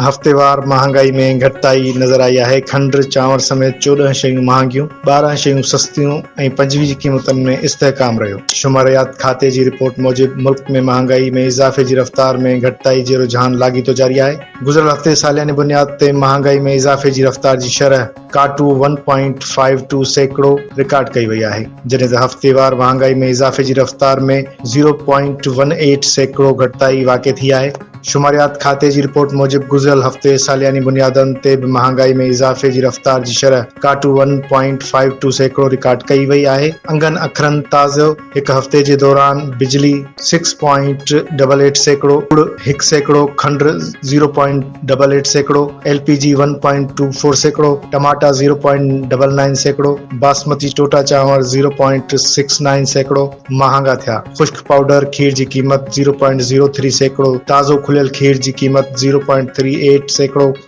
هفتيوار مهانگائي ۾ گهٽتائي نظر آئي آهي، کنڊ، چانور سميت چوڏهن شيون مهانگيون، ٻارهن شيون سستيون ۽ پنجويهه قيمتن ۾ استحڪام رهيو. شماريات کاتي جي رپورٽ موجب ملڪ ۾ مهانگائي ۾ اضافي جي رفتار ۾ گهٽتائي جي رجحان لاڳيتو جاري آهي. گذريل هفتي سالياني بنياد تي مهانگائي ۾ اضافي جي رفتار جي شرح. ڪاٽو ون پوائنٽ فائيو ٽو سيڪڙو رڪارڊ ڪئي وئي آهي، جڏهن ته هفتيوار مهانگائي ۾ اضافي جي رفتار ۾ زيرو پوائنٽ ون ايٽ سيڪڙو گهٽتائي واقع ٿي آهي. شماريات کاتي جي رپورٽ موجب گذريل هفتي سالياني بنيادن تي به مهانگائي ۾ اضافي جي رفتار جي شرح ڪاٽو ون پوائنٽ فائيو ٽو سيڪڙو رڪارڊ ڪئي وئي آهي. انگن اکرن تازو هڪ هفتي جي دوران بجلي سڪس پوائنٽ ڊبل ايٽ سيڪڙو، ڪڙ هڪ سيڪڙو، کنڊ زيرو پوائنٽ ڊبل ايٽ سيڪڙو، L P G one point two four سيڪڙو، ٽماٽا زيرو پوائنٽ ڊبل نائن سيڪڙو، باسمتي ٽوٽا چانور زيرو پوائنٽ سڪس نائن سيڪڙو مهانگا ٿيا. خشڪ پائوڊر کير جي قيمت زيرو پوائنٽ زيرو ٿري سيڪڙو، تازو کليل کير جي قيمت زيرو پوائنٽ ٿري ايٽ سيڪڙو،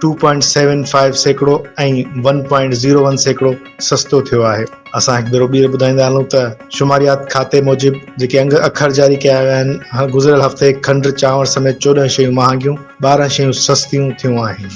ٽو پوائنٽ سيون فائيو سيڪڙو ۽ ون پوائنٽ زيرو ون سيڪڙو سستو ٿيو آهي. اسان هڪ ڀيرو ٻيهر ٻڌائيندا هلون ته شماريات کاتي موجب جيڪي انگ اکر جاري ڪيا ويا آهن، گذريل هفتي کنڊ، چانور سميت چوڏهن شيون مهانگيون، ٻارهن شيون سستيون ٿيون آهن.